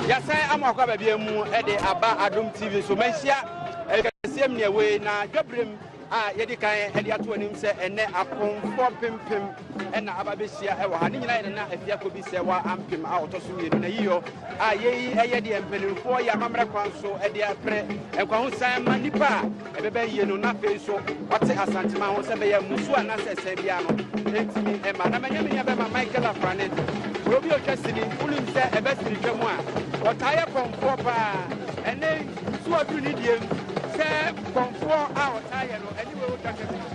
yɛasan ama akɔ ababia mu de aba adom tv so manhyia ɛkɛseɛ mneɛ wei na dwaberem a yɛde kan de ato anim sɛ ɛnɛ apɔmfoɔ mpempem ɛna aba bɛhyia ɛwɔ ha ne nyinaa yɛde na afia kɔ bi sɛ wa ampem a ɔtɔ so mmienu na yiyɔ a yɛyi ɛyɛ deɛ mpanimfoɔ yɛ amammerɛ kwan so ɛde apere nkwahosan ma nnipa a Ɛbɛba yie no na afei nso ɔte Asanteman ho sɛ bɛyɛ mmusuo anaasɛ ɛsɛn biara no ɛntumi mma. Na manya me nuabɛma Michael Afrane, kuro bi a ɔtwa sini, wonim sɛ ɛba sini twa mu a, ɔtaa yɛ kɔmfoɔ pa ara. Ɛnnɛ yi, so waduru ne deɛ mu sɛ kɔmfoɔ a ɔtaa yɛ no ɛne wei ɔtwa kɛse no?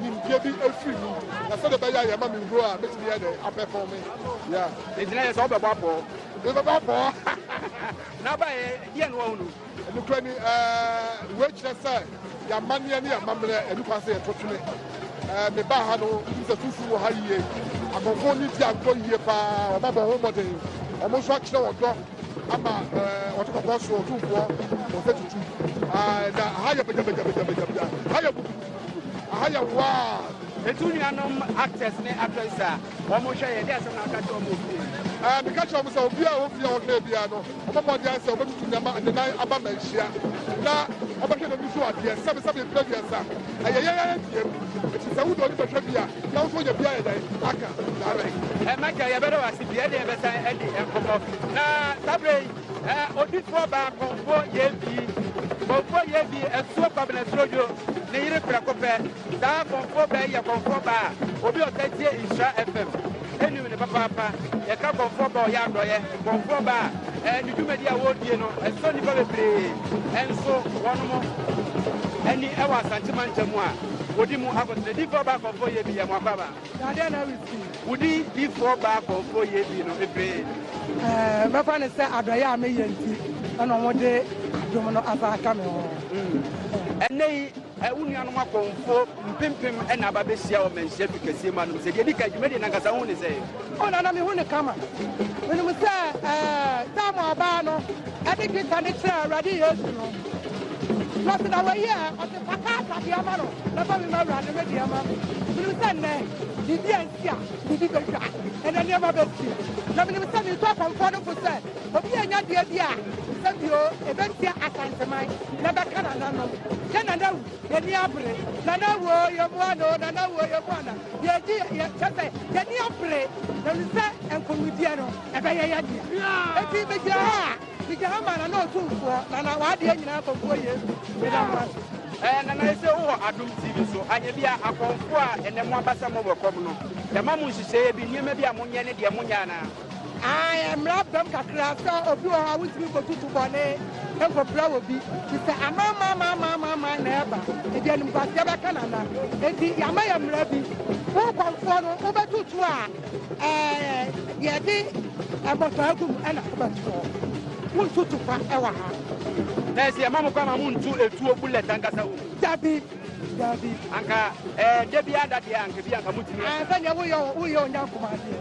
nimdeɛ bi firi mu, na sɛdeɛ ɛbɛyɛ a yɛma me huro a, mɛtumi yɛ dɛ apɛfɔn me. Yeah. Nti na yɛ sɛ wobɛbɔ apɔɔ. Mebɛbɔ apɔɔ. na aba ɛ, deɛ no wahunu. Nokora ni, ɛɛ, wei kyerɛ sɛ yɛamanneɛ ne yɛamammerɛ ani kwan sɛ yɛto twene. Ɛɛ, mebaa ha no, wotum sɛ sunsum wɔ ha yie. Akɔmfo ne ti antɔ yie paa, wɔn abɔ ho mmɔden. Wɔn nso akyerɛ wɔn dɔ ama ɛɛ, wɔte kɔkɔɔ so, ɔtumfoɔ, wɔn sɛ tutu. Ɛɛ, na ha yɛ bagya bagya bagya bagya bagya. Ha yɛ butu. Aha yɛ wild. Etu nuanom actors ne actresses a wɔn hwɛ yɛ de asɛm na aka kyerɛ wɔn ofie. Ɛɛ meka kyerɛ wɔn sɛ obiara a ofie a ɔhwɛ biara no wɔbɔ mmɔden ayɛ sɛ wɔbɛtutu nneɛma nnenan aba ma ahyia na wɔbɛhwɛ n'ani so adeɛ sɛbi sɛbi mpira mmiɛnsa ɛyɛ yɛn ara abiem eti sɛ wode ɔni bɛhwɛ bi a na nso yɛ bi ayɛ dɛn aka saa bɛn. Ɛmɛka yɛbɛda wɔ ase bi ɛde yɛbɛsan ɛde nkɔmɔ na saa bere yi. Ɛ odifoɔ baa Kɔmfoɔ Yebi. Kɔmfoɔ Yebi asuo Kwabena Srodwo ne yere prɛko pɛ. Saa Kɔmfoɔ baa yi yɛ Kɔmfoɔ baa a obi a ɔtaa tie Nhyira FM nim no papaapa. Yɛka Kɔmfoɔ baa a ɔyɛ adɔeɛ, Kɔmfoɔ baa a ɛ ne dwumadie a wɔredie no ɛsɔ nnipa bebree. Ɛnso wɔnom ani wɔ Asante mantam a wɔdi mu akotene. Difoɔ baa Kɔmfoɔ Yebi yɛ mo akwaaba. Na dɛn na ɛresi wo din difoɔ baa kɔɔfoɔ yie bi no ebee? Ɛɛ, mɛfa no sɛ adɔeɛ a meyɛ nti na wɔde dwom no asan aka me ho. Ɛnnɛ yi, wo nuanom akɔmfoɔ mpempem na aba abɛhyia wɔ mmanhyia du kɛseɛ mu anom sɛ. Deɛ ɛdi kan, dwumadie no ankasa wohu no sɛn? O Nana, mehu no kama. Menim sɛ Samuel baa no de dwetɛ no kyerɛɛ Awurade Yesu no, na ɔte dɛ, wayie ɛ? Mɛka asa deɛ ama no, mɛfa me ma Awurade me deɛ ama me. Menim sɛ nnɛ, biribi a nti a biribi bɛtwa, ɛnɛ nneɛma bɛsi. Na menim sɛ meretu akɔmfoɔ no fo sɛ, obi a ɔnya deɛ bi a, sɛ bio, ɛbɛtia Asanteman, na ɛbɛka nananom. Yɛ Nana awu, yɛn ani abere. Nana awu oo, yɛmmoa no oo, Nana awu oo, yɛmmoa no. Yɛgye, yɛ, kyerɛ sɛ, yɛn ani abere, na menim sɛ nkɔnmudeɛ no, ɛbɛyɛ yɛn dea. Enti megyina ha a, Meda Amana ne Otumfoɔ Nana w'adeɛ nyinaa bɔfoɔ Yesu meda mo ase. Ɛɛ Nana yɛsɛ wo wɔ Adom TV so anyɛ bi a akɔmfoɔ a ɛnɛ mo aba sɛ mo wɔ kɔm no yɛma mo nhyehyɛeɛ bi nneɛma bi a mo nyɛ ne deɛ mo nyɛ anaa? Ae mmra bɛm kakra sɛ obi wɔ hɔ a wontumi nkɔtutu bɔne nkɔpira wɔ bi te sɛ amamamamamamama na ɛba nti animguaseɛ bɛka Nana nti yɛama yɛ mmra bi wo kɔmfoɔ no wobɛtutu a Ɛɛ yɛde mmɔfra gu mu ɛna wobɛto hɔ. Wontu tukwa ɛwɔ ha. Nɛɛsi ɛma mo kɔ ama mo ntu etuo bullet ankasa wɔ mu. Dabi, dabi. Anka ɛɛ da bi ada deɛ anka bi anka mo tumi. Ɛɛ sɛdeɛ woyɛ woyɛ onyankoma adeɛ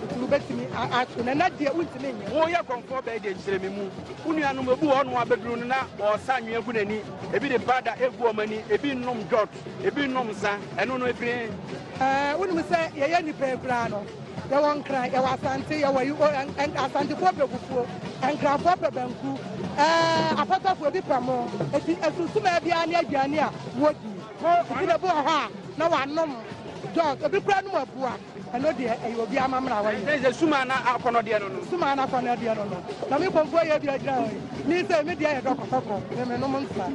nti wobɛtumi ato na na deɛ wontumi nyɛ. Woyɛ kɔnfoɔ bɛɛ deɛ nkyerɛ me mu. Wo nuanom ebu hɔ nom abɛduru no na wɔsa anwea gu n'ani. Ebi de powder egu wɔn ani, ebi nom dwɔt. Ebi nom nsa, ɛno no ebien. Ɛɛ, wonim sɛ yɛyɛ nnipa yi koraa no, yɛwɔ Nkran, yɛwɔ Asante, yɛwɔ yi, o, ɛn, ɛn, Asantefoɔ pɛ fufuo, Nkranfoɔ pɛ banku, ɛɛ, Apatafoɔ bi pɛ mo, eti asunsumaa biara ne aduane a wɔdi. Eti na ebi wɔ hɔ a, na wɔanom dɔɔso, ebi koraa nom abua. Ɛno deɛ ɛyɛ obi amammerɛ a wɔyɛ. Ɛsɛ sɛ sum a na akɔnnɔ deɛ no no. Sum a na akɔnnɔ deɛ no no. Na me bɔfoɔ yɛ bi agyina hɔ yi. Me sɛ me deɛ yɛ dɔkɔdɔkɔ, me menom nsa.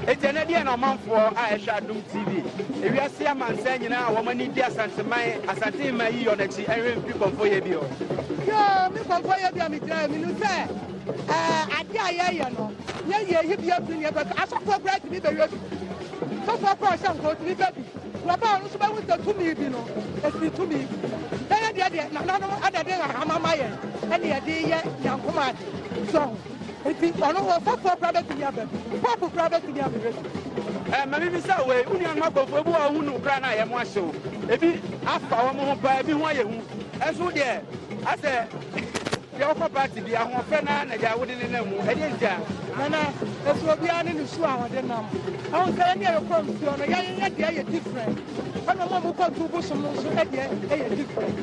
Enti ɛnɛ deɛ na ɔmanfoɔ a ɛhwɛ Adom TV, ewiase amansan nyinaa a wɔn ani gye Asanteman, Asante Mma yi yɔ no akyi ɛnhwɛ mfiri bɔfoɔ yɛ bi hɔ. Yoo, me bɔfoɔ yɛ bi a megyina hɔ yi, menim sɛ ɛɛ adeɛ a yɛyɛ no, yɛyɛ yi bi afiri ne yɛbɛka. Asɔfoɔ koraa tumi bɛyɛ bi. Sɔfoɔ koraa ɔhyɛ nkɔɔ tumi bɛ bi. Wɔba a ɔno nso bɛhu sɛ tumi bi no, ɔsene tumi bi. Na yɛn deɛ deɛ, nananom na ɛde nhahama ma yɛn ɛne yɛde yɛ nyankom ade. So ho? Nti ɔno ɔsɔfoɔ koraa bɛtumi aba bi, pɔpo koraa bɛtumi abɛbɛ bi. Ɛɛ, ma memmisa wei, wo nuanom akɔmfoɔ, ebi wɔ hɔ a wohunu koraa na ayɛ mo ahyew, ebi afa wɔn ho paa, ebi ho ayɛ hu, nso wo deɛ asɛ. Deɛ ɔkɔ party bi ahoɔfɛ no ara na deɛ wode ne nam mu. Ɛdeɛ nti a? Nana, ɛsɛ obiara ne ne su a ɔde nam. Ɛho sɛ yɛn deɛ yɛkɔ nsuo no, yɛn yɛ deɛ yɛ different. Ɛna mo a mokɔ tu bosom no nso ɛdeɛ ɛyɛ different.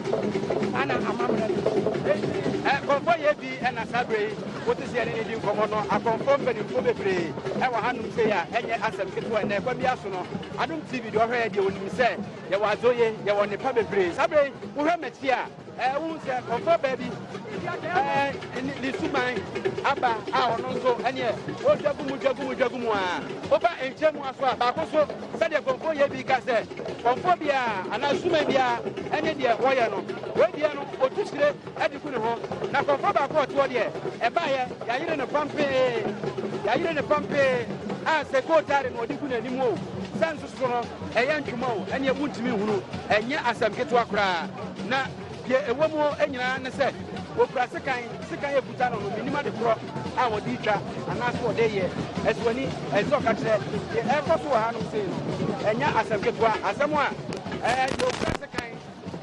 Saa na amammerɛ no teɛ. Ɛ, kɔmfɔ yɛ bi ɛna saa berɛ yi wote sɛ yɛne ne di nkɔmmɔ no, akɔmfɔ mpanimfoɔ bebree ɛwɔ hanom sei a ɛnyɛ asɛm ketewa. Ɛnnɛ ɛkwan biara so no, Adom TV deɛ ɔhwɛ yɛ deɛ ɔnim sɛ yɛwɔ adzoye, yɛwɔ nnepa bebree. Saa berɛ yi, wohwɛ m'akyi a, Ɛɛ, wohu sɛ ɔmfa baa bi ɛɛ, ne, ne suban aba a ɔno nso ɛneɛ ɔdwa gu mu dwa gu mu dwa gu mu a woba nkyɛn mu aso a baako so sɛdeɛ kɔmfoɔ yɛ bi ka sɛ kɔmfoɔ biara anaa suman biara ɛne deɛ wɔyɛ no wei deɛ no ɔtu hyire ɛde gu ne ho na kɔmfoɔ baako a ɔteɔ deɛ ɛbaeɛ yɛayere ne pampee yɛayere ne pampee a sɛ kootare na ɔde gu n'anim o sɛ nso So no, ɛyɛ ntwoma o, ɛnneɛ wontumi nhunu. Ɛnyɛ asɛm ketewa koraa. Na deɛ ɛwɔ mu nyinaa ne sɛ, wɔkura sekan, sekan a ɛkuta no no, mennim ade korɔ a wɔde retwa anaasɛ wɔde reyɛ. Ɛso ani, ɛsɛ sɛ ɔka kyerɛ deɛ ɛrekɔ so wɔ hanom sei no, ɛnyɛ asɛm ketewa. Asɛm a ɛɛ deɛ ɔkura sekan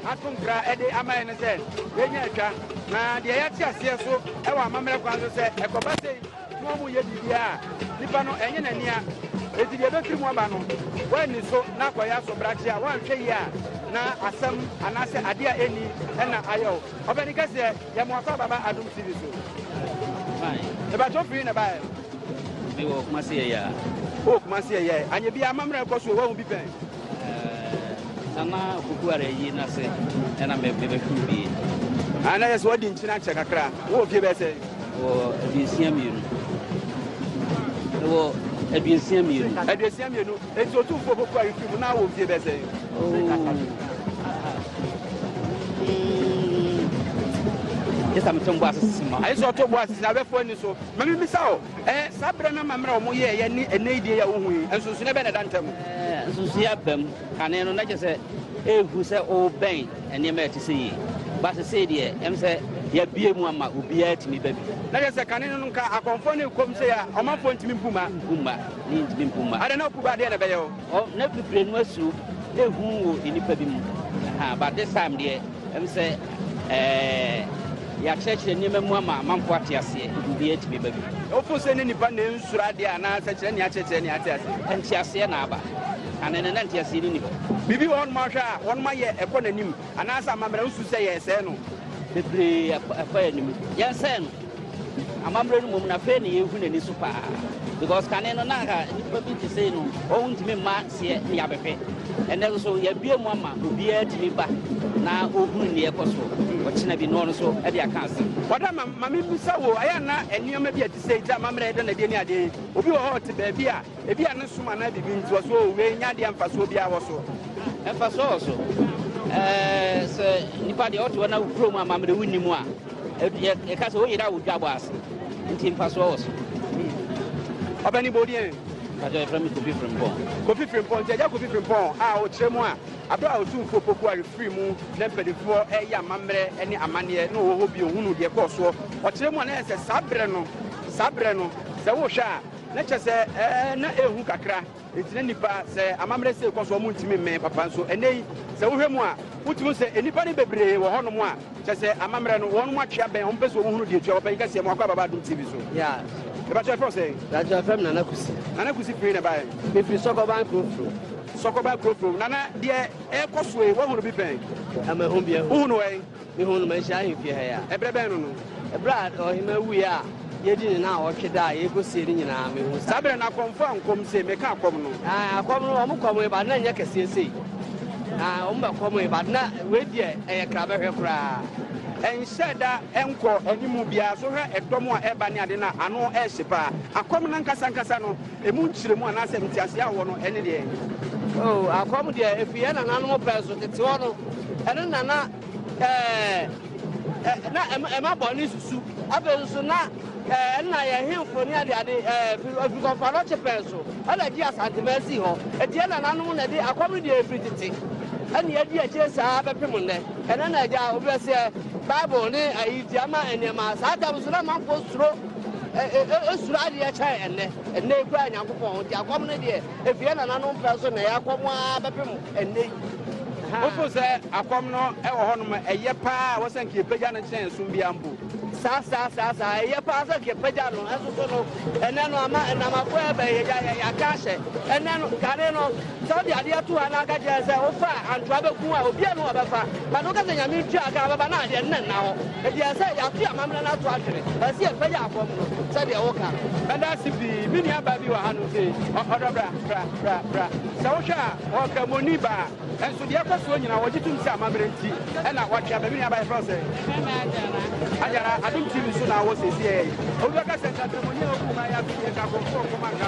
ato nkra de ama yɛn ne sɛ, yɛnya atwa, na deɛ yɛate aseɛ so wɔ amammerɛ kwan so sɛ ɛkɔba sei, Mo a moyɛ biribiara a nipa no ɛnyɛ n'ani a, enti deɛ ɛbɛfiri mu aba no, woanni so na akɔyɛ asobrakye a, woanhwɛ yie a, na asɛm anaasɛ adeɛ a ɛnni na ayɛ wo. Ɔpanin kɛseɛ, yɛ mo afa baba Adom TV so. Fine. Mebatwɛ ofiri na baɛ. Me wɔ Kumasi ɛyɛ a. Wowɔ Kumasi ɛyɛ. Anyɛ biara amammerɛ kɔ so o, woahu bi pɛn. Uh, Nana Akuku Addo ayi n'ase na mebɛhuru bie. Ah, na yɛ sɛ wadi nkyene akyɛ kakra. Wowɔ fie bɛyɛ sɛ? Wɔ aduosia mmienu. Wɔ aduosia mmienu. Aduosia mmienu. Enti otumfoɔ popo a yɛfiri mu na wɔ fie bɛyɛ sɛ? Oh. Yɛ sɛ meto mbo asese ma. Ayɛ sɛ ɔto mbo asese abɛfoɔ ani so. Ma memmisa o. Ɛɛ, saa bere no amammerɛ a wɔyɛeɛ ne ɛnnɛ yi deɛ yi a wohu yi, nsonsonoeɛ bɛn na ɛda ntam? Ɛɛ, nsonsonoeɛ aba mu. Kane no, na kyerɛ sɛ ɛrehu sɛ worebɛn nneɛma a ɛte sɛ yei. Ba seesei deɛ, ɛwom sɛ yɛabue mu ama obiara atumi ba bi. Na kyerɛ sɛ kane no, anka akɔmfoɔ no rekɔ mu, sei a ɔmanfoɔ ntumi mpu mma. Mpu mma. Ne ntumi mpu mma. Adɛn na wopu ba a, deɛn na ɛbɛyɛ wo? Ɔ, na pipire no asuro ehu wɔ nnipa bi mu. Ahaa, but this time deɛ. Ɛwom sɛ yɛakyerɛkyerɛ nneɛma mu ama amanfoɔ ate aseɛ de, obiara tumi ba bi. Wofo sɛ ne nnipa na ensuro adeɛ anaa sɛ kyerɛ nea akyerɛkyerɛ nea ate aseɛ? Nteaseɛ na aba. Kane no, na nteaseɛ no nni hɔ. Biribi wɔ hɔnom a wohwɛ a wɔnom ayɛ ɛkɔ n'anim anaasɛ amammerɛ wosusu sɛ yɛresɛe no? Bebree ɛkɔ yɛn anim. Yɛnsɛe no. Amammerɛ no mmom na afei na yɛrehu n'ani so paa because kane no na anka nnipa bi te sei no wɔn ntumi mma seɛ ne yɛabɛhwɛ ɛnɛ nso yɛabue mu ama obiara tumi ba na ɔhunu neɛ ɛkɔ so ɔkyena bi na ɔno nso ɛde aka asɛm. Wɔda ma ma memmisa wo ayɛ na nneɛma bi a te sei te amammerɛ ɛda na deɛ ne adeɛ obi wɔ hɔ ɔte baabi a ebi a ne som anaa biribi nti wɔ so wei nya adeɛ mfasoɔ biara wɔ so mfasoɔ wɔ so ɛɛ sɛ nipa deɛ ɔte hɔ na kurom amammerɛ wonni mu a Yɛka sɛ wo yere awodwo abɔ ase nti mfasoɔ wɔ so. Ɔbɛni bɔ odi ɛn. Mpakyɛ yɛfrɛ me Kofi Frimpong. Kofi Frimpong nti agya Kofi Frimpong a ɔkyerɛ mu a aberɛ a Otumfoɔ Pokuah refiri mu na mpanimfoɔ ɛyɛ amammerɛ ne amanneɛ na ɔwɔ hɔ bio hunu deɛ ɛkɔɔ soɔ ɔkyerɛ mu a na yɛ sɛ saa berɛ no saa berɛ no sɛ wohwɛ a na kyɛ sɛ ɛɛ na ɛhu kakra Enti na nnipa, sɛ amammerɛ sei kɔ so a, wɔntumi mmɛn papa. Nso ɛnnɛ yi, sɛ wohwɛ mu a, wotumi hu sɛ nnipa no bebree wɔ hɔnom a, kyerɛ sɛ amammerɛ no, wɔn atwe abɛn, wɔpɛ sɛ wɔhunu deɛ ɛtua. Ɔpanyin kɛseɛ, mmoa kɔ aba ba Adom TV so. Yeah. Mepa kyɛ, yɛfrɛ wo sɛn? Daakye wɔfrɛ me Nana Kusi. Nana Kusi, firi he na ɛbaeɛ? Mefiri Sɔkɔban Kurofrom. Sɔkɔban Kurofrom. Nana, deɛ ɛrekɔ so yi, woahunu bi pɛn? Mahu bi ahu. Wohunu wɛn? Mehuu no manhyia ahemfie ha yi a. Ɛberɛ bɛn no no? Ɛberɛ a ɔhemmaa wuiɛ a yɛadi ne nnawɔtwe da a yɛrekɔsie no nyinaa, mehuu saa. Saa berɛ no akɔmfoɔ ankɔm sei, meka akɔm no. Ae, akɔm no, wɔkɔmee but na ɛnyɛ kɛseɛ sei. Ae, wɔbɛkɔmee but na wei deɛ ɛyɛ krabɛhwɛ koraa. Ɛnhyɛɛ da nkɔɔ anim biara. So hwɛ ɛdɔm a ɛreba ne ade no a, ano rehye paa. Akɔm no ankasa ankasa no, Emu nkyerɛmu anaasɛ nteaseɛ a wɔwɔ no, ɛne deɛn? O, akɔm deɛ ɛfiri yɛn nananom pɛɛ so tete hɔ no, ɛno na na ɛɛ, na ɛma bɔne susu. Afei nso na ɛɛ, ɛno na yɛn hemfo ne adeade ɛɛ, firi kɔmfa nɔkye pɛɛ so ɛna gye Asanteman sii hɔ. Enti yɛn nananom na ɛde akɔm no deɛ ɛfiri tete ɛne yɛadi akyire saa bɛpem nnɛ. Ɛnɛ na agya obi bɛseɛ Bible ne ayi nti ama nneɛma saa tam nso na amanfoɔ suro. suro adeɛ kyɛn ɛnnɛ. Ɛnnɛ yi koraa Nyankopɔn ho nti akɔm no deɛ ɛfiri yɛn nananom pɛ so na ɛyɛ akɔm ara bɛpem ɛnnɛ yi. Wofo sɛ akɔm no ɛwɔ hɔ nom ɛyɛ paa a wɔsɛ nka yɛpagya no kyɛn som biara mpo. Saa saa saa saa ɛyɛ paa sɛ nka yɛpagya no ɛnso so no ɛnɛ no ama ɛnam akoa ɛbɛn yɛgya yɛaka ahyɛ ɛnɛ no kane no Sɛ wode adeɛ to hɔ na woka kyerɛ no sɛ wofa a, antoa bɛku a, obiara nni hɔ a ɔbɛfa. But woka sɛ Nyame ntua ka a ɔbɛba no a, ɛdeɛ ɛno na nna hɔ. Enti ɛsɛ sɛ yɛate amammerɛ no ato ahwere. Ɛsɛ sɛ yɛpagya fam no sɛdeɛ woka no. Mɛda ase pii. Me nua baa bi wɔ hanom sei, ɔ, ɔdɔ bra, bra, bra, bra. Sɛ wohwɛ a, ɔyɛ Ɔkramoɔni baa. Nso deɛ ɛkɔ soɔ nyinaa, wɔgye tom sɛ amammerɛ nti ɛna wɔatwe aba. Me nua baa, yɛfrɛ wo sɛn? Mɛma Ajara. Ajara, Adom TV so na wɔ seesei. Obi bɛka sɛ nka Ɔkramoɔni a ɔkuu baa yi ato deɛ, nka akorɔmfoɔ nkɔm anka.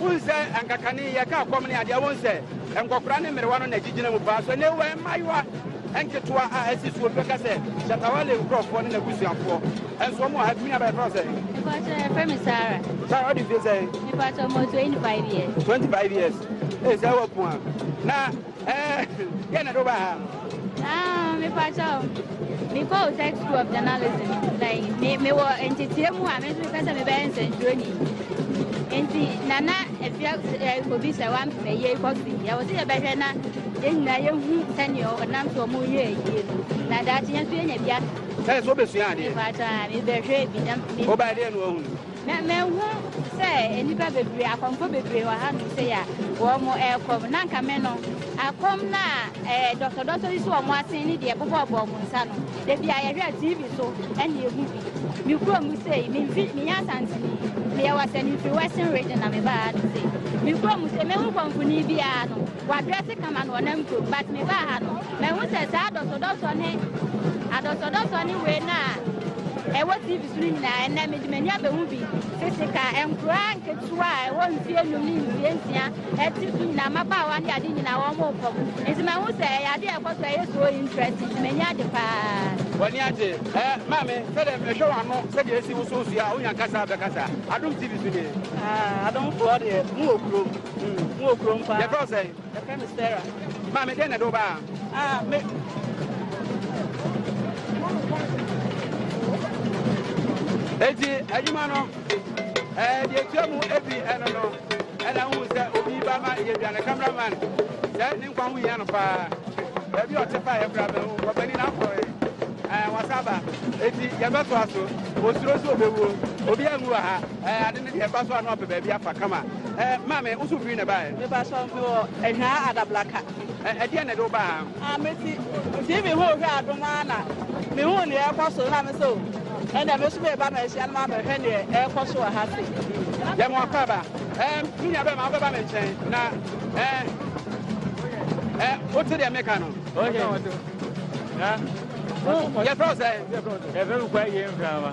Wohu sɛ anka kane yɛka kɔm ne adeɛ, wohu sɛ nkɔkora ne mmerewa no na ɛgyigyina mu paa. So ɛnɛ wowɔ mmaayewa nketewa a asi soɔ bi bɛka sɛ Shatta Wale nkurɔfoɔ ne n'abusuafoɔ nso wɔn wɔ ha? Tumi aba yɛfrɛ wo sɛ? Mepakyɛ yɛfrɛ me Sarah. Sarah ɔde fie sɛ? Mepakyɛ ɔmɔ 25 years. 25 years. Ee sɛ wɔ pua. Na Ɛɛ yɛ na do ba ha. Ah, me pa cha o. Me ko tech school of journalism. Like me me wo ntete mu a me so kasa me be nsentro ni. Enti nana efia obi se wan me ye ko si. Ya wo se ye be hwe na ye nyina ye hu sani o nam so mu ye ye. Na da chi ye so ye nya bia. Sɛ so be sua ade. Me pa cha me be hwe bi na. Oba de no hu. Na mahu sɛ nnipa bebree, akɔmfo bebree wɔ hanom sɛ yɛ a wɔrekɔm. Na anka me no, akɔm no a ɛɛ dɔsɔdɔsɔ yi so wɔn asen ne deɛ ɛbobɔɔbɔ wɔn nsa no, da bi a yɛhwɛ a TV so ɛna ehu bi. Me kuro mu sei, me mfi, me yɛ asantini, me yɛ wɔ sɛ me mfiri Western region na me baa ha no sei. Me kuro mu sei, mehu kɔmfoni biara no, wadrɛse kama no ɔnam kuro mu, but me baa ha no, mahu sɛ saa dɔsɔdɔsɔ ne adɔsɔdɔsɔ ne wei no a ɛwɔ TV bere nyinaa. Ɛnnɛ, mede m'ani abehu bi. Tete ka, nkuraa nketewa a ɛwɔ mfie nnum ne mfie nsia a ɛte so nyinaa, mmabaawa ne ade nyinaa, wɔreko. Enti mahu sɛ ɛyɛ ade a ɛkɔ so a ɛyɛ so interest, enti m'ani agye paa. W'ani agye? Ɛɛ, Maame, sɛdeɛ mehwɛ w'ano, sɛdeɛ esi woso nsu yi a, wonya kasa a, bɛkasa. Adom TV so nie. Ah, Adomfoɔ deɛ, mowɔ kurom. Mowɔ kurom paa. Yɛfrɛ wo sɛn? Yɛfrɛ me Sarah. Maame, dɛn na ɛde wo baa ha? Ah, me. Eti adwuma no, ɛɛ deɛ etua mu ebi ɛno no, ɛna wohu sɛ obi ba ma yɛ aduane cameraman. Sɛ ne nkwa ho hia no paa. Baabi a ɔte paa yɛ kura bɛn ho, ɔbɛni na afɔ yɛ. Ɛɛ wasaba. Eti yɛbɛtoa so. Osuro so obewuo. Obi anwu wɔ ha. Ɛɛ ade no deɛ ɛba so a na wapɛ baabi afa kama. Ɛɛ maame wo so firi na ɛbaeɛ? Mepa sɔ me wɔ Ɛhwaa Adablaka. Ɛɛ ɛdeɛn na ɛde wo baa ha? Ah me ti TV ho hwɛ adom ara na me hu neɛ ɛkɔ so na me sɛ o ɛnna me so me ba ma ahyia no ma ma hwɛ neɛ ɛkɔ so wɔ ha se. Yɛ mo akɔ aba. Ɛɛ me nua bɛrima wobɛba me nkyɛn na ɛɛ ɛɛ wote deɛ meka no. Yɛfrɛ wo sɛ? Yɛfrɛ me kwa yie mframa.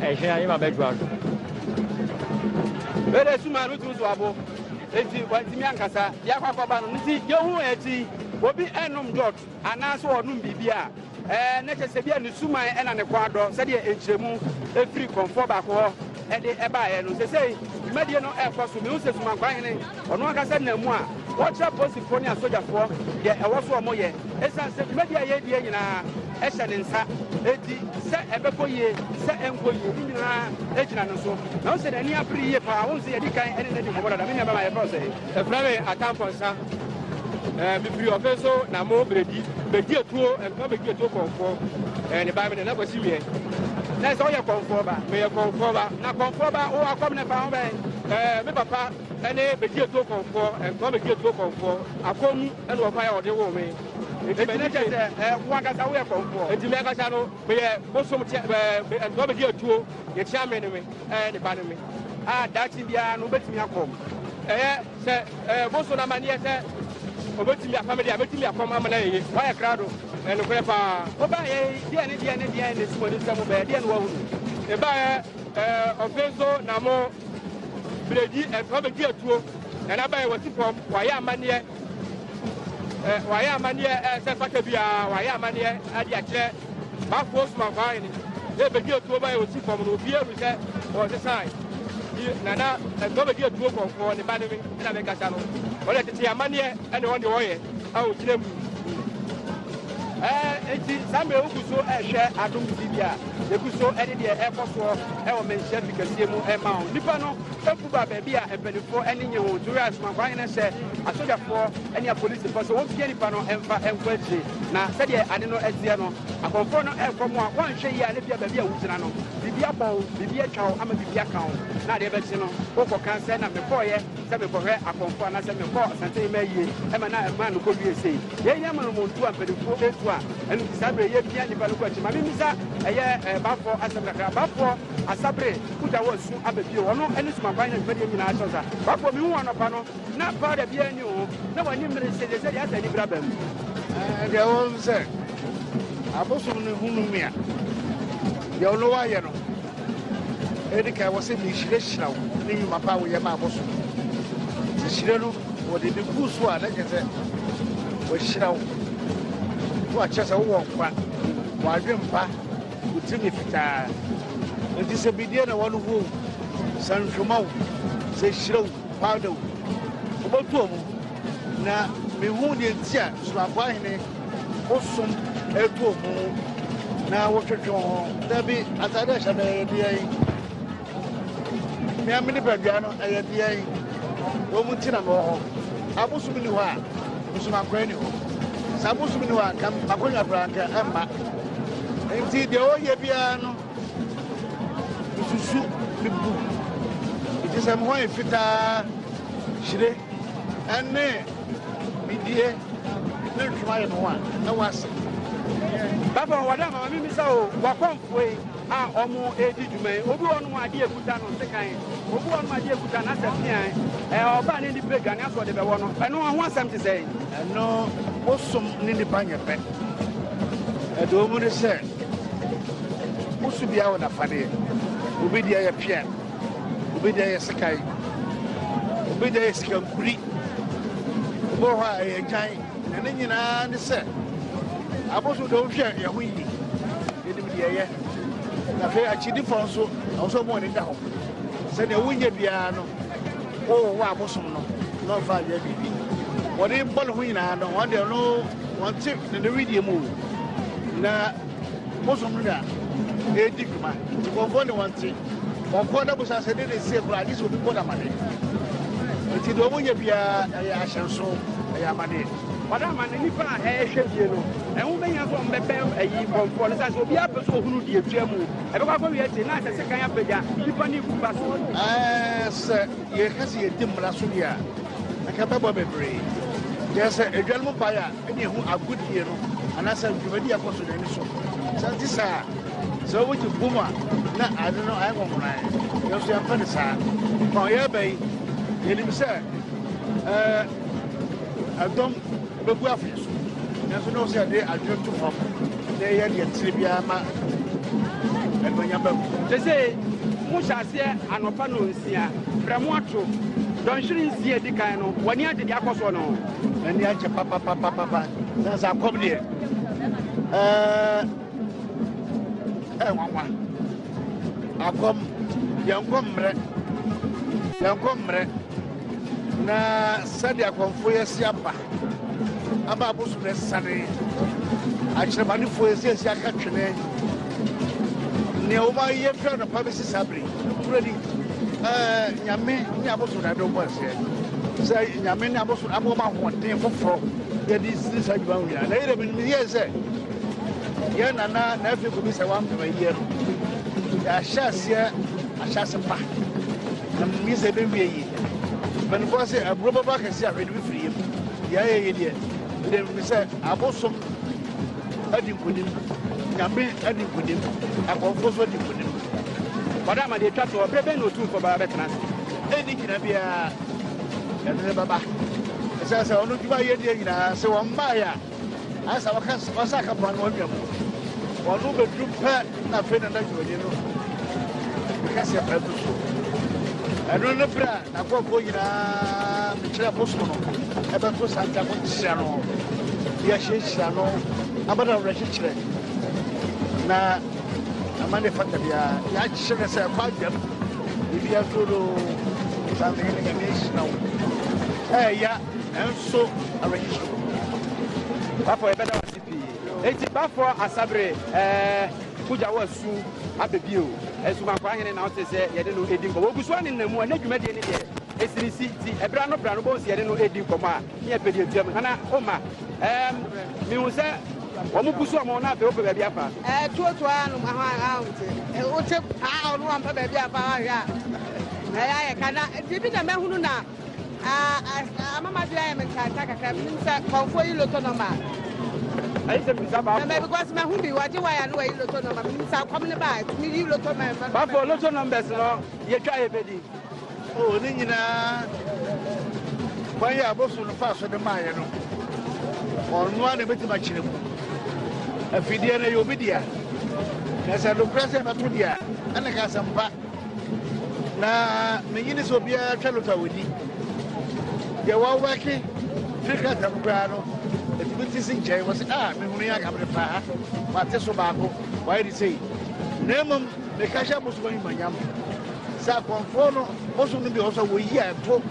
Ɛhwɛ ayé ma bɛ dwa do. Bere sum a ɛretu nso abo nti wantumi ankasa de akɔ akɔba no nti yehu akyi obi ɛnom dot anaasɛ ɔnom biribi a ɛɛ na kyɛ sɛ bi a ne suman ɛna ne kɔn adɔ sɛdeɛ nkyerɛmu ɛfiri kɔnfoɔ baako hɔ ɛde ɛbaeɛ no sɛsei dwumadie no ɛrekɔ so mehu sɛ sumankwahene Ɔno ankasa nam mu a ɔkyerɛ apolisifoɔ ne asogyafoɔ deɛ ɛwɔ so wɔyɛ. Ɛsiane sɛ dwumadie a yɛredie nyinaa hyɛ ne nsa enti, sɛ ɛbɛkɔ yie, sɛ ɛnkɔ yie, ne nyinaa gyina no so. Na wo sɛ n'ani abere yie paa, wohu sɛ yɛdi kan ne no adi nkɔmmɔ dada. Me nua bɛma yɛfrɛ wo sɛn? Yɛfrɛ me Atamfo Nsa. Eh, mefiri ɔfe nso na mo beredi. Medi etuo, ɛntoma medi etuo kɔnfoɔ. Eh, ne ba me nana kwasi wiɛ. Na sɛ woyɛ kɔnfoɔ ba? Meyɛ kɔnfoɔ ba. Na kɔnfoɔ ba, wowɔ akɔm ne fa ho bɛn? Eh, me papa. Ɛne bɛgye atuo kɔmfoɔ, ɛntoa bɛgye atuo kɔmfoɔ. Akɔm mu ɛne ɔkwan a wɔde woo me. Enti m'ani gye. Enti na kyerɛ sɛ wo ankasa woyɛ kɔmfoɔ. Enti me ankasa no meyɛ bosom tea, ɛɛ, ɛntoa bɛgye atuo, deɛ tia me ne me, ɛɛ, ne ba ne me. A daakye biara no wobɛtumi akɔm. Ɛyɛ sɛ, ɛɛ, bosom no amanneɛ sɛ ɔbɛtumi afa me deɛ a, mɛtumi akɔm ama no ayɛ yie. Woayɛ krado, ɛyɛ nokorɛ paa. Wobaeɛ yi, deɛn ne deɛn ne deɛn na ɛsi w'ani nsam, wobɛyɛ deɛn na woahunu? Mebaeɛ. Ɔfe nso na mo bredi ɛfɔ bedi atuo na n'aba yɛ wɔsi fam wɔayɛ amaneɛ wɔayɛ amaneɛ ɛsɛ fata biara wɔayɛ amaneɛ adi akyerɛ bafoɔ sumanfoɔ ayɛ ne yɛ bedi atuo ba yɛ wɔsi fam no obi ehu sɛ wɔsesan yi nana ɛfɔ bedi atuo kɔnkɔn ne ba ne me ɛna me kasa no ɔde tete amaneɛ ɛna ɔde ɔyɛ a ogyina mu ɛɛ eti saa mmerɛ wogu so ɛhwɛ adom tv a Yegu so de deɛ ɛrekɔ soɔ wɔ Manhyia Fi kɛseɛ mu rema wo. Nnipa no abu ba baabi a mpanimfoɔ ani nnye ho nti, woyɛ asoma nkwa hene hyɛ asogyafoɔ ne apolisifoɔ sɛ wɔmpia nnipa no mfa nkɔ akyire. Na sɛdeɛ ade no teɛ no, akɔmfoɔ no rekɔ mo a, woanhwɛ yie a na ebia baabi a wogyina no, biribi abɔ wo, biribi atwa wo ama biribi aka wo, na adeɛ bɛkye no, wokɔka sɛ na mekɔeɛ sɛ merekɔhwɛ akɔmfoɔ anaasɛ mekɔɔ Asantehene Mayie ma na mmaa no kɔwiee sei. Yei nyɛ monomonto a mpanimfoɔ retu a ɛno nti saa berɛ yi yɛpia nnipa no kɔ akyiri. Ma memmisa ɛyɛ Bafoɔ asɛm kakra. Bafoɔ Asabere Kudza wɔ asu aba bio. Ɔno ne Sumaban na dwumadie nyinaa kyɛw saa. Bafoɔ mehu wo anɔpa no na powder biara nni wo ho na w'anim mmere hye. Seesei deɛ asɛ anibere aba mu. Ɛɛ deɛ ɛwɔ mu sɛ abosom no hunu me a deɛ ɔno wayɛ no Edi kan, wɔse mehyirahyira wo ne nnwuma pa a woyɛ maa mo so. Nhyira no, wɔde ebi guu so a, na kyerɛ sɛ wɔahyira wo, na wɔakyerɛ sɛ wowɔ nkwa, w'adwene pa, wo tirinwi fitaa. Enti sɛ bidie na wɔn ho wo, sɛ nhwoma wo, sɛ hyira wo, powder wo, wobɛtɔ mu. Na mihuu nea enti a Suafo Ahene ho som retu wɔn ho na wɔtwetwe wɔn ho. Dabi, atade a ɛhyɛ me yɛ deɛn? Nea me nipadua no ɛyɛ deɛn? Wɔn mu nti na mewɔ hɔ. Abosom ni hɔ a, nsomankwan ni hɔ. Sɛ abosom ni hɔ a, nka m'akonnwa koraa nka ɛmma. Enti deɛ wɔyɛ biara no, mesusu, mebu. Enti sɛ me ho ayɛ fitaa, hyire. ɛne bidie ne ntwoma yɛ ne ho a na wase. Papa wɔ dɛ mama mimi sɛ o wakɔmfoe a ɔmo edi dwuma yi obi wɔ nom adeɛ ekuta no sekan obi wɔ nom adeɛ ekuta no asɛ pian ɛɛ ɔbaa ne nipa aduane asɔ ɔde bɛwɔ no ɛno ho asɛm te sɛ ɛno bosom ne nipa nyɛ pɛ ɛde ɔmu ne sɛ woso biara wɔ nafadeɛ obi deɛ yɛ pian Obi deɛ yɛ sekan, obi deɛ yɛ sikankuri, obi wɔ hɔ a ɛyɛ gyan, na ne nyinaa ne sɛ abosom deɛ wohwɛ yɛn ho yie yɛnim deɛ ɛyɛ na afei akyidifo nso ɛwɔ sɛ ɔmo ani da hɔ sɛdeɛ wonyɛ biara no wɔwɔ wɔ abosom no na ɔmfa anyɛ biribi wɔde bɔ ne ho nyinaa no wɔn deɛ no wɔn te ne ne wedeɛ mu na Bosom no na ɛredi dwuma. Nkɔmfoɔ ne wɔn te. Wɔn kɔn na bosa sɛ de ne sie koraa agye sɛ obi bɔ n'amane. Nti deɛ wɔyɛ biara ɛyɛ ahyɛnso, ɛyɛ amaneɛ. Wɔn amane nipa a ɛrehwɛ bie no, ɛho bɛhia sɛ wɔbɛbɛn ayi nkɔmfoɔ no sɛ sɛ obi apɛ sɛ ohunu deɛ ɛtwa mu. Ɛbɛkɔ akɔwie akyire na asɛ sekan apagya nipa ne eku ba so. Sɛ yɛka sɛ yɛdi mmara so deɛ a, ɛka bɛbɔ bebree. Deɛ sɛ adwanom baeɛ a, ɛne ɛho agodie no anaasɛ dwumadi a ɛkɔ so no ani so sɛ nte saa sɛ wogye bom a na ade no ayɛ nwɔnwonae nanso yɛmpɛ ne saa ma ɔyɛ aba yi yɛnim sɛ ɛdɔm bɛgu afei so nanso ne wo sɛ ɛde adwene to fam na ɛyɛ deɛ tiri biara ma ɛnuonyam bɛ mu te sɛ mohyɛ aseɛ anɔpa no nsia berɛ mo ato dɔnhwere nsia di kan no wɔne agyede akɔ soɔ no N'ani agye papapapapa. Sɛ sɛ akɔm deɛ ɛɛ ɛɛ nwanwa akɔm yɛn nkɔ mmerɛ yɛn nkɔ mmerɛ na sɛdeɛ akɔmfoɔ yɛ si aba aba abosom na ɛsane akyerɛmanefoɔ yɛ si asi aka twene nea wɔn ayɛ fira nɔpa bɛsi saa bere. Nokorɛ ni, Nyame ne abosom na ɛde wɔn bɔ aseɛ, sɛ Nyame ne abosom ama wɔn ahoɔden foforɔ yɛde sini saa adwuma ho nyinaa. Na yɛdɛ menim yie sɛ, yɛn nana na afei kɔbi sɛ wampem ayie no, yɛahyɛ aseɛ ahyɛ ase pa, na menim yie sɛ ɛbɛwie yie. Mpanimfoɔ se, aburo bɛbɔ akɛseɛ a hwee de bɛfiri yam. Deɛ ayɛ yie deɛ, medɛ menim sɛ abosom adi nkonim, Nyame adi nkonim, akɔmfoɔ nso adi nkonim. Wɔde ama deɛ ɛtwa toɔ, berɛ bɛn na Otumfoɔ bɛba bɛtena ase? Ɛnni gyina biara, ɛno ne bɛba. Ɛsɛ sɛ ɔno dwuma yɛ deɛ nyinaa, sɛ wɔn mmaeɛ a, ayɛ sɛ wɔka wɔsa ka pɔn no wɔn nwa mu. Wɔn no bɛduru pɛ na afei na na dwumadi no kɛseɛ pɛ no so. Ɛno ne berɛ a Nakurɔfoɔ nyinaa bɛkyerɛ bosom no ɛbɛto Santiago nhyira no de ahyiahyira no ama no awerɛkyekyerɛ na ama ne fata biara yɛakyerɛ sɛ ɛkɔ adwam biribi ato do sanfɛyɛ no nyame ahyira wo ɛɛya nanso awerɛkyekyerɛ wo papa yɛbɛda wase pii. Enti Baffour Asabere eh, mogya wo asu aba bio. Nsumankwaa hene na wote sɛ yɛde no edi nkɔmmɔ. Ogu so a ne nna mu a, ne dwumadie ne deɛ ɛsi ne si. Ti ɛbra no bra no bɔhu sɛ yɛde no edi nkɔmmɔ a, ne yɛ pɛ deɛ tua mu. Nana Oma, ɛɛm, mehu sɛ wɔn gu so wɔn ho na afei wopɛ baabi afa. Ɛɛ, tuotuo ara nom ahɔ a, a wote, eh, wote paa ɔno wɔn pɛ baabi afa ahwɛ a, ɛyɛ ayɛ ka na, biribi na mɛhunu na. Ah, ama ma dira yɛ me ntantan kakra bi nim sɛ kɔnfoɔ yi loto nɔma ɛyɛ sɛ bisa baafo mɛ because mɛ hu bi wɔgye waya no wɔyi loto nɔma mi nim sɛ akɔm ne ba tumi yi loto mɛ mɛ baafo loto nɔmbɛs no yɛtwa yɛ bɛdi o ne nyinaa kwan yɛ aboso no fa so de maayɛ no ɔnoa na ɛbɛtumi akyerɛ mu afideɛ no yɛ obi dea na sɛ nokorɛ sɛ ɛbɛto deɛ ɛne ka asɛmpa na menyi ne sɛ obiara twa lota wɔni deɛ wɔwɛke firi krataa mu koraa no ɛtumi te si nkyɛn wɔ se a mehunu yɛ akamene paa mate so baako wɔayɛ de sei na mmom meka hyɛ bosom anwumanyam sɛ akɔmfoɔ no bosom no bi wɔ sɛ wɔyi a ɛto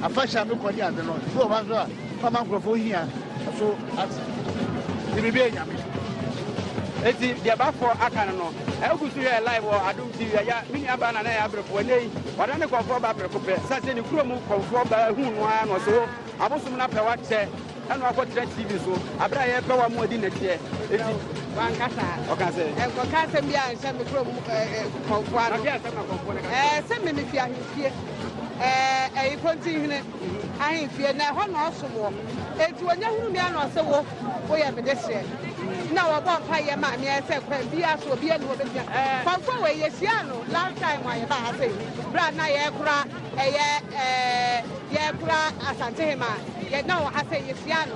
afahyɛ a mekɔ ne ade no bi wɔ hɔ so a fama nkurɔfoɔ hia so ate de biribi anyame eti deɛ bafoɔ aka no no ɛgu so yɛ live wɔ adom Ti Yaya, me nuabaa na na ɛyɛ aberefoɔ. Ɛnnɛ yi, wada ne kɔmfoɔ baa prɛko pɛ. Ɛsiane sɛ ne kurom kɔmfoɔ baa huu no ara na ɔse o, abosom no apɛ wakyɛ ɛna wakɔtena TV so bere a yɛrepɛ wɔn a wɔadi nnɛteɛ. Enti wankasa ɔka sɛ. Ɛnkɔka asɛm bi a nhyɛ me kurom kɔmfoɔ ano. Ɛɛ sɛ me mefi ahemfie. Ɛɛ ɛyi Kontinhene. Ahemfie, na ɛhɔ na ɔsom wɔ. Enti wɔnya hunu me ano sɛ wo, woyɛ me deseɛ. Na wɔbɔ mpaeɛ ma me ayɛ sɛ kwan biara so obiara nni hɔ bɛtumi a. Kɔmfoɔ wei, yɛhyiaa no last time a yɛbaa ha sei, berɛ a na yɛrekora ɛyɛ, ɛɛ, yɛrekora Asantehemaa. Yɛ, na ɔwɔ ha sei, yɛhyiaa no.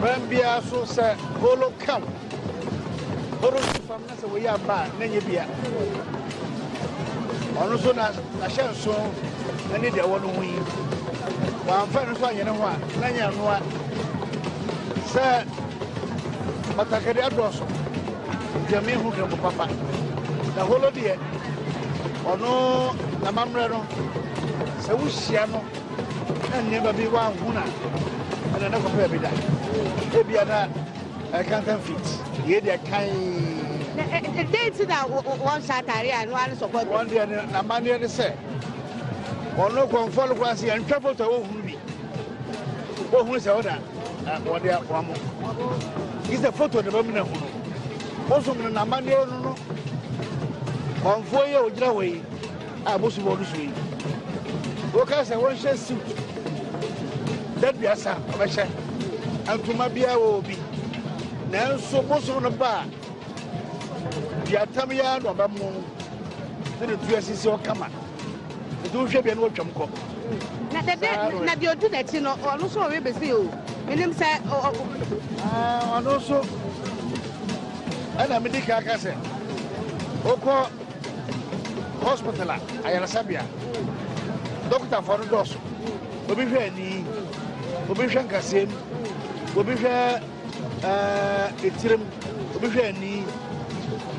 Kwan biara so sɛ holo ka wo. Holo si fam na sɛ wɔyi aba a na nyɛ bia. Ɔno nso na n'ahyɛnso ne deɛ ɛwɔ no ho yi. Wɔamfa no nso anyɛ ne ho a na nyɛ anoa sɛ batakari adɔɔso gyame ho kɛmpo papa na holo deɛ ɔno n'amammerɛ no sɛ wohyia no na nneɛma bi wanhu na ɛna na kɔpɛ bi da ebia na ɛkantan fit yɛ deɛ kan. ɛdɛn ti na wɔn hyɛ ataare a ɛno ano sɔpɔ. wɔn deɛ ne n'amanneɛ ne sɛ wɔn no kɔnfɔ no kwan se yɛn ntwa foto a wɔhunu bi wɔhunu sɛ wɔn na wɔde wɔn mo yi sɛ foto na bɛmu na hunu wɔsom no n'amanneɛ no no kɔnfɔ yi a wɔgyina hɔ yi. a ɛbɔ subɔ no so yi, woka sɛ wɔnhyɛ suit daduasa a wɔbɛhyɛ ntoma biara wɔ obi nanso bosom no ba a duatam yɛa na ɔbɛmo ne ne tu asisi ɔkama nti wohwɛ bia ne wɔtwam kɔ na dɛdɛ na deɛ ɔdi n'akyi no ɔno nso ɔwe bɛsi o menim sɛ ɔno nso ɛna medi ka ka sɛ wokɔ Hospital a ayaresabea dɔkotafoɔ no dɔɔso. Obi hwɛ ani, obi hwɛ nkasɛm, obi hwɛ eh, etirim, obi hwɛ ani.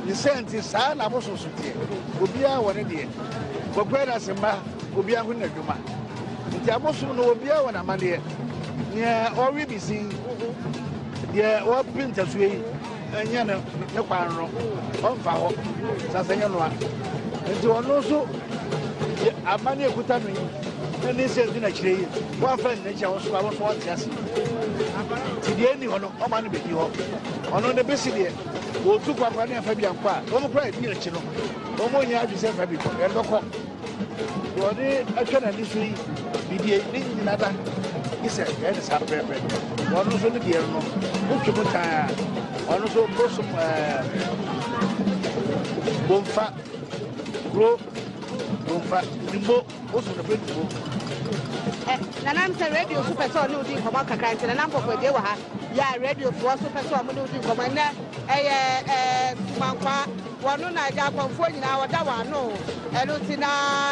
Ne sɛ nti saa na abososo teɛ. Obiara wɔ ne deɛ. Wɔkura no ase mma, obiara ho n'adwuma. Nti abosom no obiara wɔ n'amadeɛ. Nea ɔwe bi sin, deɛ ɔpe ntasuo yi. Ɛnyɛ no ne kwan no ɔmfa hɔ na sɛ nyɛ no a nti ɔno nso yɛ amane ekuta no yi ɛne sɛ ɛdi n'akyire yi wɔamfa ne n'akyi a wɔso a wɔso ɔte ase nti deɛ ɛni hɔ no ɔma no bɛdi hɔ ɔno ne bɛsi deɛ wɔtu kwankwa ne ɛfa bi ankɔ a wɔn kora ɛdi akyi no wɔn nyɛ adwi sɛ ɛfa bi kɔ ɛdɔkɔ deɛ ɔde atwa n'ani so yi bidie ne nyina da gye sɛ ɛyɛ ne saa pɛpɛ ɔno nso ne deɛ no wotwe mu taa ɔno nso bosom bomfa kuro bomfa nimbo bosom no fɛ nimbo nanam sɛ radio so pɛ sɛ ɔne wodi nkɔmmɔ kakra nti nanam kɔkɔadie wɔ ha yɛ a radiofoɔ so pɛ sɛ ɔmo ne wodi nkɔmmɔ ɛnɛ ɛyɛ sumankwa Wɔno na agya akɔmfoɔ nyinaa wɔda wɔn ano o. Ɛno nti na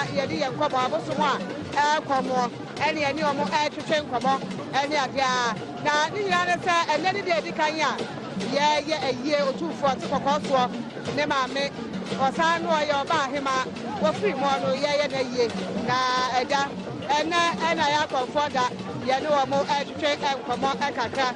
yɛne yɛn nkɔmmɔ, abosom a ɛrekɔ moɔ ɛne yɛne wɔn ɛretwetwe nkɔmmɔ ɛne adeɛ a. Na ne nyinaa ne sɛ, ɛnnɛ ne deɛ ɛdi kan a yɛreyɛ ayie Otumfoɔ a ɔte kɔkɔɔ soɔ ne maame, ɔsan ne ɔyɛ ɔbaa hemaa, wɔfiri moɔ no yɛreyɛ no ayie. Na agya, ɛnnɛ ɛna yɛn akɔmfoɔ da, yɛne wɔn ɛretwetwe nkɔmmɔ kakra.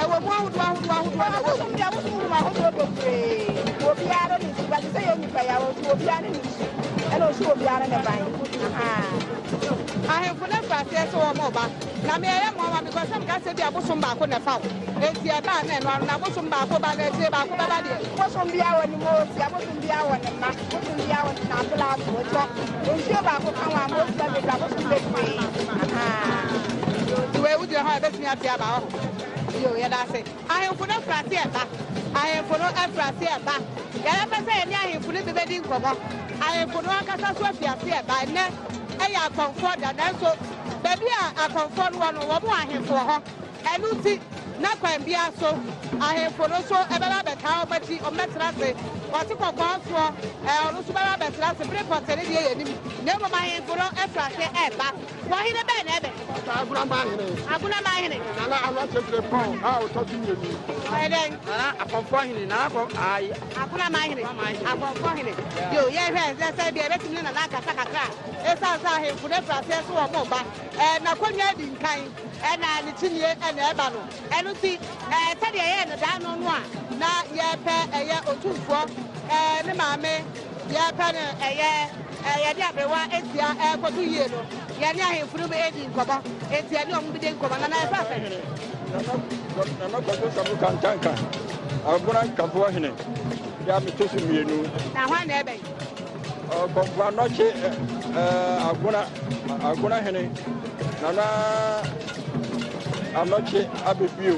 Ɛwɔ mu ahodoɔ ahodoɔ ahodoɔ na ɛwɔ mu. Abosom deɛ abosom hunu ahodoɔ bebree. Obiara ne su ba te sɛ yɛ nnipa yi awɔ so obiara ne ne su ɛna ɔsu obiara ne ban. Ahemfo no afa aseɛ sɛ wɔn ɔba na me ɛyɛ mmoa ma me kɔ sɛ meka sɛ bi abosom baako na ɛfa wo enti ɛbaa na ɛno ano na abosom baako ba na akyire baako bɛba deɛ. Abosom biara wɔ ne mu ɔsi abosom biara wɔ ne mma. bosoom biara wɔde na ato laa so wɔtɔ nsuo baako ka ho a mmoa sika bebree abosoom bebree ahaa nti wei wogyina hɔ a ɛbɛtumi ate aba hɔ yo yɛda ase ahemfo no afura ase ɛba ahemfo no afura ase ɛba yɛbɛpɛ sɛ yɛne ahemfo no bi bɛdi nkɔmmɔ ahemfo no ankasa so afi ase ɛba ɛnɛ ɛyɛ akɔmfoɔ da nanso baabi a akɔmfoɔ no wɔ no wɔn ahemfo wɔ hɔ Ɛno nti, na kwan biara so ahemfo no nso bɛba abɛtaa wɔn akyi, wɔbɛtena ase. Ɔte kɔkɔɔ nso ɛ? Ɔno nso bɛba abɛtena ase bere pɔtee ne deɛ yɛnnim. Na mmom ahemfo no firi ase reba. Wɔn hene bɛn na ɛbɛn? Ɔtaa agunaman hene. Agunaman hene. Nana ano akyerɛkyerɛ Paul a ɔtɔ so mmienu. Ɔyɛ dɛn? Nana akɔmfoɔ hene. Nana akɔ ayi. Agunaman hene. Akɔmfoɔ hene. Yo, yɛnhwɛ nsɛ sɛ bia ɛbɛtumi ne Nana akasa kakra a, ɛsiane sɛ ahemfo no afiri aseɛ nso wɔn mma. Ɛ, n'akonnwa adi nkan. na ne kyinie na ɛba no. Ɛno nti, sɛdeɛ ɛyɛɛ no da no no a na yɛpɛ ɛyɛ Otumfoɔ ne maame, yɛpɛ no ɛyɛ yɛde aberewa asia ɛrekɔto yie no, yɛne ahemfo no redi nkɔmmɔ, enti yɛne wɔn bɛdi nkɔmmɔ. Nana yɛfrɛ wo sɛn? Nana Kwadwo Samu Kantanka, Abona Nkafoɔ hene, yɛ a meto so mmienu. Na hwan na ɛbɛn? Kɔmforanɔkye Agona Agona hene Nana Anɔkye abɛbio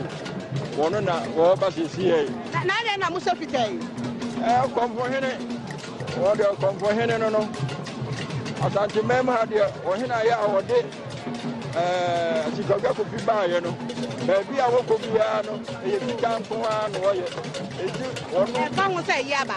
wɔno na wɔba sisi yɛ na adɛn na mosɛ fita yi kɔmfo hene wɔde kɔmfo hene no no asante mmam ha deɛ ɔhene ayɛ a wɔde sikadwa kofi baayɛ no baabi a wɔkɔ biara no ɛyɛ fitaa nko ara na wɔyɛ ɛti wɔno ɛka ho sɛ ɛyɛ aba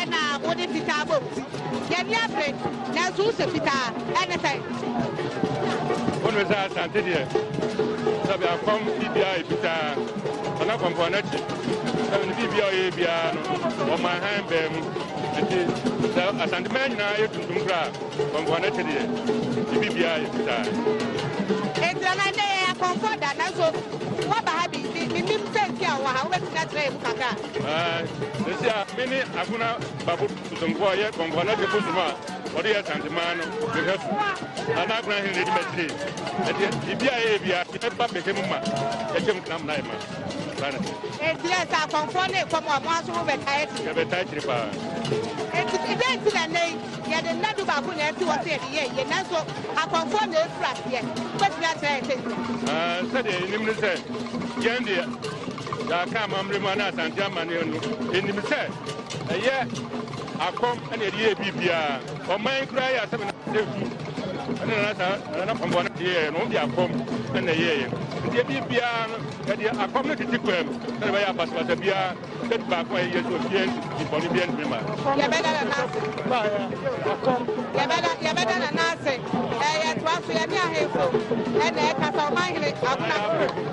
Ɛna wode fitaa bɔ wo ti. Y'ani abere nanso wo hyɛ fitaa ɛne sɛn. Wo nim sɛ Asante deɛ sɛ bia fam bibia yɛ fitaa ɔna kɔmpɔn n'akyi sɛ ne bibia ɔyɛ biara no ɔma han bɛɛ mu nti sɛ Asante mɛ nyinaa yɛ tuntum koraa kɔmpɔn n'akyi deɛ ne bibia yɛ fitaa. Ɛnti na ndɛ yɛ akɔmpɔ da nanso waba ha bi menim sɛ nti a wɔ ha wobɛtumi akyerɛ yɛ mu kakra. Sɛsi a me ne Agona Babo Bosonkɔ a ɔyɛ Kɔnkɔn Agye Bosom a ɔde yɛ Asanteman no mehwɛ so na na Agona Hene na ɛdi m'akyire ɛdeɛ biribi a ɛyɛ bia ɛba bɛka mu ma yɛkyɛm tena mo na yɛ ma saa na ɛteɛ. Enti yɛ sɛ akɔmfoɔ ne kɔm a mo aso mo bɛtaa akyire. Yɛbɛtaa akyire paa. Enti dɛ nti na nnɛ yi yɛde nna du baako nyinaa si hɔ sɛ yɛde yɛ yie nanso akɔmfoɔ na ɛfiri aseɛ wobɛtumi akyerɛ yɛ sɛ nti. Sɛdeɛ yɛnim ne sɛ yɛn deɛ Yɛaka amammerɛ mu anaa Asante amanneɛ no, ɛnim sɛ ɛyɛ akɔm na ɛde yɛɛ biribiara. Ɔman yi koraa yɛ asɛm na ɛsu ɛne nana saa nana pɔmpɔ no de yɛɛ no, wɔn de akɔm na ɛyɛeɛ. Nti ɛbi biara no, ɛde akɔm no tete kwan mu sɛ ɛbɛyɛ abasabasa biara, sɛ baako a yɛyɛ sɛ obiara nti bɔne biara ntumi ma. Yɛbɛda nana ase. Yɛbɛda yɛbɛda nana ase. Ɛyɛ toa so yɛ ne ahemfo ɛna ɛkasa ɔman hene akonafo.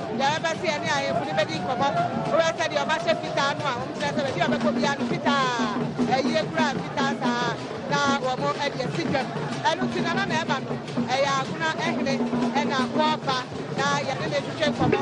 Deɛ ɛbɛ sɛ yɛne ahemfo no bɛdi nkɔmmɔ bɛyɛ sɛ deɛ ɔbahyɛ fitaa no a wɔkyerɛ sɛ baabi a ɔbɛkɔ biara no fitaa ayie koraa fitaa saa na wɔn ɛde asi dwam ɛno nti nana na ɛba no ɛyɛ agona ɛhene ɛna wɔba na yɛne ne twetwe nkɔmmɔ.